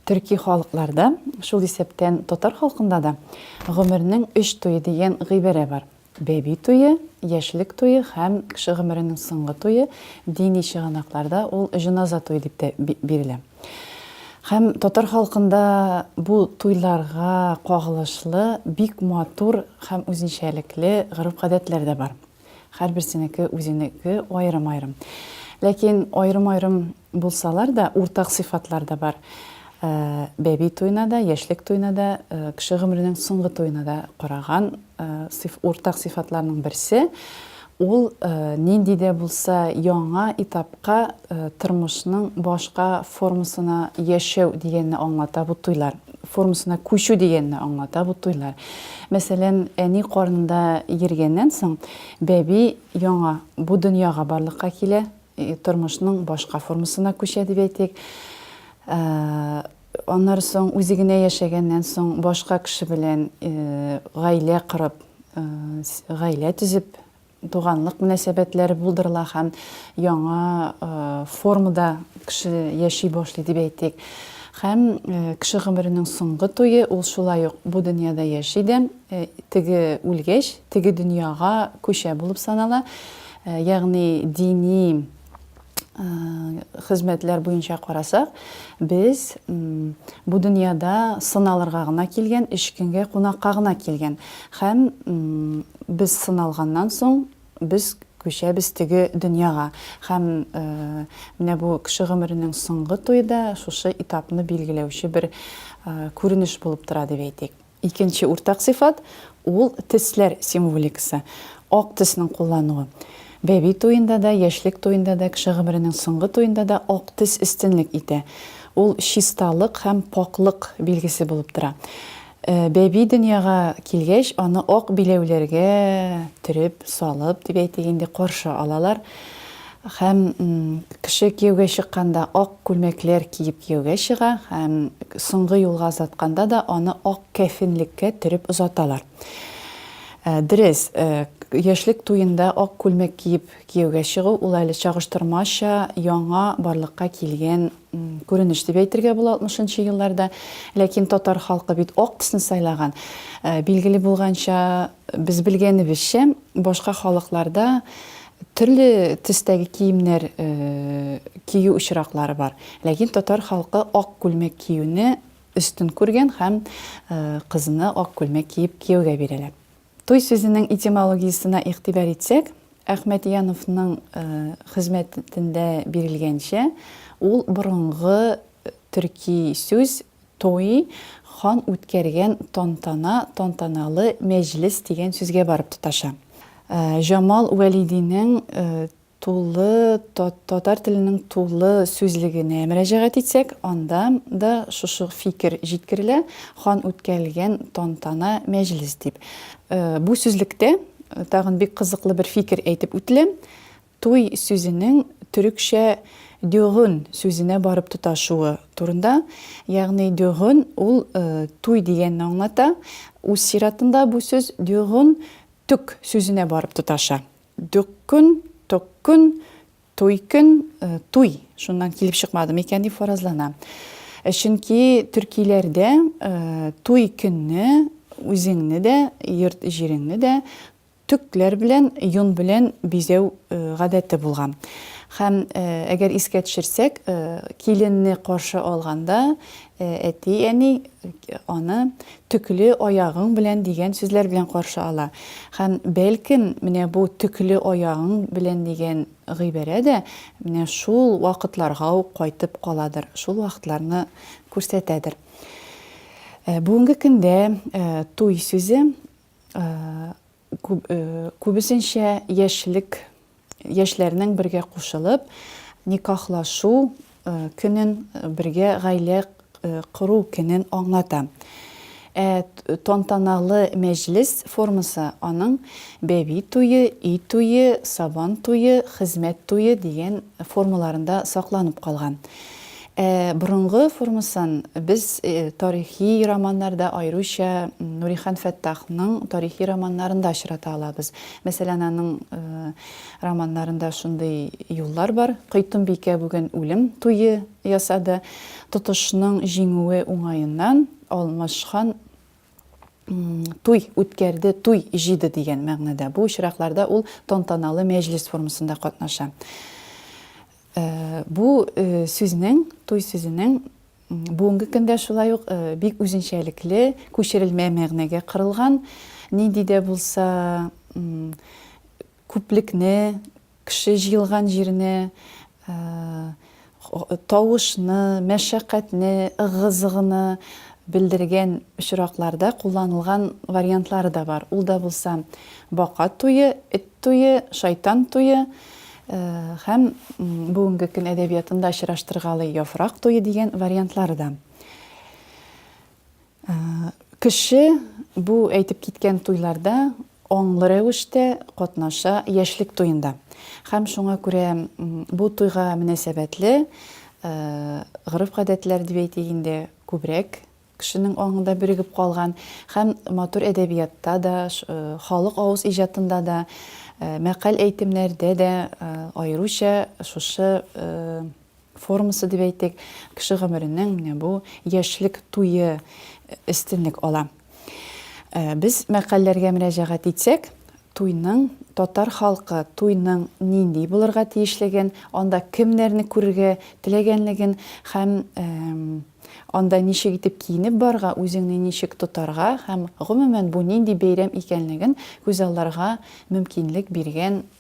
төрки халыкларда, шул исәптән татар халкында да гомернең өч туе дигән гыйбарә бар. Бәби туе, яшьлек туе һәм кеше гомеренең соңгы туе, дини чыганакларда ул җеназа туе дип тә бирелә. Һәм татар халкында бу туйларга кагылышлы бик матур һәм үзенчәлекле гореф-гадәтләр дә бар. Һәрберсенеке үзенеке аерым-аерым. Ләкин аерым-аерым булсалар да, уртак сыйфатлар да бар. Э, бәби туена да, яшьлек туена да, э, кеше гомеренең соңгы туена да караган э, уртак сыйфатларның берсе Ул нинди дә булса яңа этапка, тормышның башка формасына яшәү дигәнне аңлата бу туйлар. Формасына күчү дигәнне аңлата бу туйлар. Мәсәлән, әни карнында йөргәннән соң, бәби яңа бу дөньяга барлыкка килә, тормышның башка формасына күчә дип әйтик. Аннары соң үзе генә яшәгәннән соң башка кеше белән гаилә корып, гаилә төзеп, туганлык мөнәсәбәтләре булдырыла һәм яңа формада кеше яши башлый дип әйтик. Һәм кеше гомеренең соңгы туе ул шулай ук бу дөньяда яши дә, теге үлгәч, теге дөньяга күчә булып санала. Ягъни дини хезмәтләр буенча карасак, без бу дөньяда сыналырга гына килгән, өч көнгә кунакка гына килгән. Һәм без сыналганнан соң, без күчәбез теге дөньяга. Һәм э, менә бу кеше гомеренең соңгы туе да шушы этапны билгеләүче бер э, күренеш булып тора дип әйтик. Икенче уртак сыйфат, ул тесләр символикасы, ак теснең куллануы. Бәби туенда да, яшьлек туенда да, кеше гомеренең соңгы туенда да ак тес өстенлек итә. Ул чисталык һәм пакълык билгесе булып тора. Бәби дөньяга килгәч, аны ак биләүләргә төреп, салып, дип әйтик инде, каршы алалар. Һәм кеше кияүгә чыкканда ак күлмәкләр киеп кияүгә чыга һәм соңгы юлга озатканда да аны ак кәфенлеккә төреп озаталар. Дөрес, яшьлек туенда ак күлмәк киеп кияүгә чыгу ул әле чагыштырмача яңа барлыкка килгән күренеш дип әйтергә була 60 нчы елларда. Ләкин татар халкы бит ак төсне сайлаган. Билгеле булганча, без белгәнебезчә, башка халыкларда Төрле төстәге киемнәр кию очраклары бар. Ләкин татар халкы ак күлмәк киюне өстен күргән һәм кызны ак күлмәк киеп кияүгә бирәләр. Туй сүзенең этимологиясенә игътибар итсәк, Әхмәтьяновның хезмәтендә бирелгәнчә, ул борынгы төрки сүз, Туй, хан үткәргән тантана, тантаналы мәҗлес дигән сүзгә барып тоташа. Җамал Вәлидинең тулы татар теленең тулы сүзлегенә мөрәҗәгать итсәк, анда да шушы фикер җиткерелә, хан үткәргән тантана, мәҗлес дип. Бу сүзлектә тагын бик кызыклы бер фикер әйтеп үтелә, Туй сүзенең төрекчә дёгън сүзенә барып тоташуы турында, ягъни дёгън ул туй дигәнне аңлата, үз чиратында бу сүз дёгън төк сүзенә барып тоташа. Дёккөн, токкөн, туйкөн, туй шуннан килеп чыкмады микән дип фаразлана. Чөнки төркиләрдә туй көнне үзеңне дә, йорт-җиреңне дә Төкләр белән, йон белән бизәү гадәте булган. Һәм, әгәр искә төшерсәк, киленне каршы алганда, әти-әни аны Төкле аягың белән дигән сүзләр белән каршы ала. Һәм, бәлкем, менә бу Төкле аягың белән дигән гыйбарә дә менә шул вакытларга ук кайтып каладыр, шул вакытларны күрсәтәдер. Бүгенге көндә туй сүзе Күбесенчә яшьлек яшьләрнең бергә кушылып, никахлашу көнен, бергә гаилә кору көнен аңлата. Ә тантаналы мәҗлес формасы аның бәби туе, өй туе, сабан туе, хезмәт туе дигән формаларында сакланып калган. Ә борынгы формасын без тарихи романнарда, аеруча Нурихан Фәттахның тарихи романнарында очрата алабыз. Мәсәлән, аның романнарында шундый юллар бар. Койтымбикә бүген үлем туе ясады. Тотышның җиңүе уңаеннан Алмашхан туй үткәрде, туй җыйды дигән мәгънәдә. Бу очракларда ул тантаналы мәҗлес формасында катнаша. Э, бу э, сүзнең, туй сүзенең бүгенге көндә шулай ук э, бик үзенчәлекле, күчерелмә мәгънәгә кырылган, нинди дә булса күплекне, Кеше җыелган җирне, тавышны, мәшәкатьне, ыгы-зыгыны белдергән очракларда кулланылган вариантлары да бар. Ул да булса бака туе, эт туе, шайтан туе һәм бүгенге көн әдәбиятында очраштыргалый яфрак туе дигән вариантлары да. Кеше бу әйтеп киткән туйларда аңлы рәвештә катнаша яшьлек туенда. Хәм шуңа күрә бу туйга мөнәсәбәтле гореф-гадәтләр дип әйтик инде, күбрәк кешенең аңында бирегеп калган. Хәм матур әдәбиятта да, халык авыз иҗатында да, мәкаль-әйтемнәрдә дә аеруча шушы формасы дип әйтик, кеше гомеренең менә бу яшьлек туе өстенлек ала. Без мәкальләргә мөрәҗәгать итсәк, туйның татар халкы туйның нинди булырга тиешлеген, анда кемнәрне күрергә теләгәнлеген һәм анда ничек итеп киенеп барга, үзеңне ничек тотарга һәм гомумән бу нинди бәйрәм икәнлеген күзалларга мөмкинлек биргән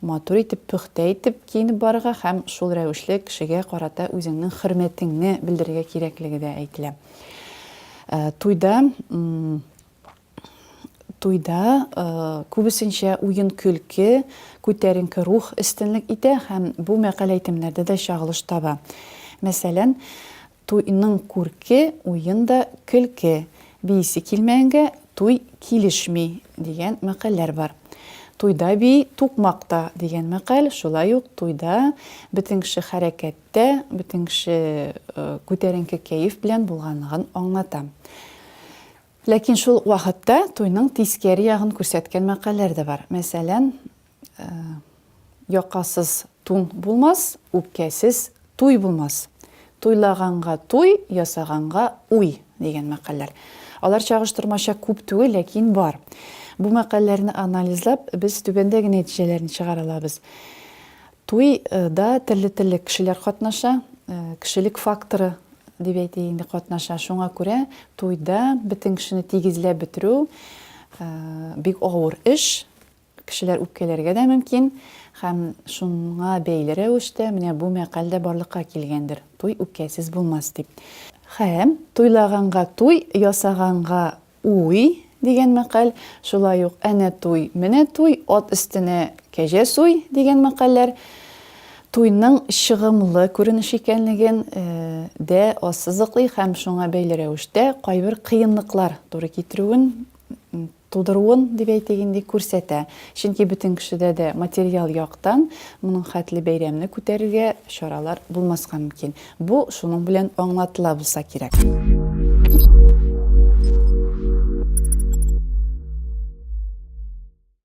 Матур итеп, пөхтә итеп киенеп барырга һәм шул рәвешле кешегә карата үзеңнең хөрмәтеңне белдерергә кирәклеге дә әйтелә. Туйда туйда күбесенчә уен-көлке, күтәренке рух өстенлек итә һәм бу мәкаль әйтемнәрдә дә чагылыш таба. Мәсәлән, Туйның күрке, уен да, көлке. Биисе килмәгәнгә туй килешми, дигән мәкальләр бар. Туйда бии, тукмак та, дигән мәкаль шулай ук туйда бөтен кеше хәрәкәттә, бөтен кеше күтәренке кәеф белән булганлыгын аңлата. Ләкин шул ук вакытта туйның тискәре ягын күрсәткән мәкальләр дә бар. Мәсәлән, Якасыз тун булмас, үпкәсез туй булмас. Туйлаганга туй, ясаганга уй, дигән мәкальләр. Алар чагыштырмача күп түгел, ләкин бар. Бу мәкальләрне анализлап, без түбәндәге нәтиҗәләрне чыгара алабыз. Туй да төрле-төрле кешеләр катнаша, кешелек факторы дип әйтик инде катнаша. Шуңа күрә туйда бөтен кешене тигезләп бетерү бик авыр эш. Кешеләр үпкәләргә дә мөмкин, һәм шуңа бәйле рәвештә менә бу мәкаль дә барлыкка килгәндер, Туй үпкәсез булмас, дип. Һәм Туйлаганга туй, ясаганга уй дигән мәкаль, шулай ук Әнә туй, менә туй, Ат өстенә кәҗә суй дигән мәкальләр туйның чыгымлы күренеш икәнлеген дә ассызыклый һәм шуңа бәйле рәвештә кайбер кыенлыклар туры китерүен тудыруын, дип әйтик инде, күрсәтә. Чөнки бөтен кешедә дә материаль яктан моның хәтле бәйрәмне күтәрергә чаралар булмаска мөмкин. Бу шуның белән аңлатыла булса кирәк.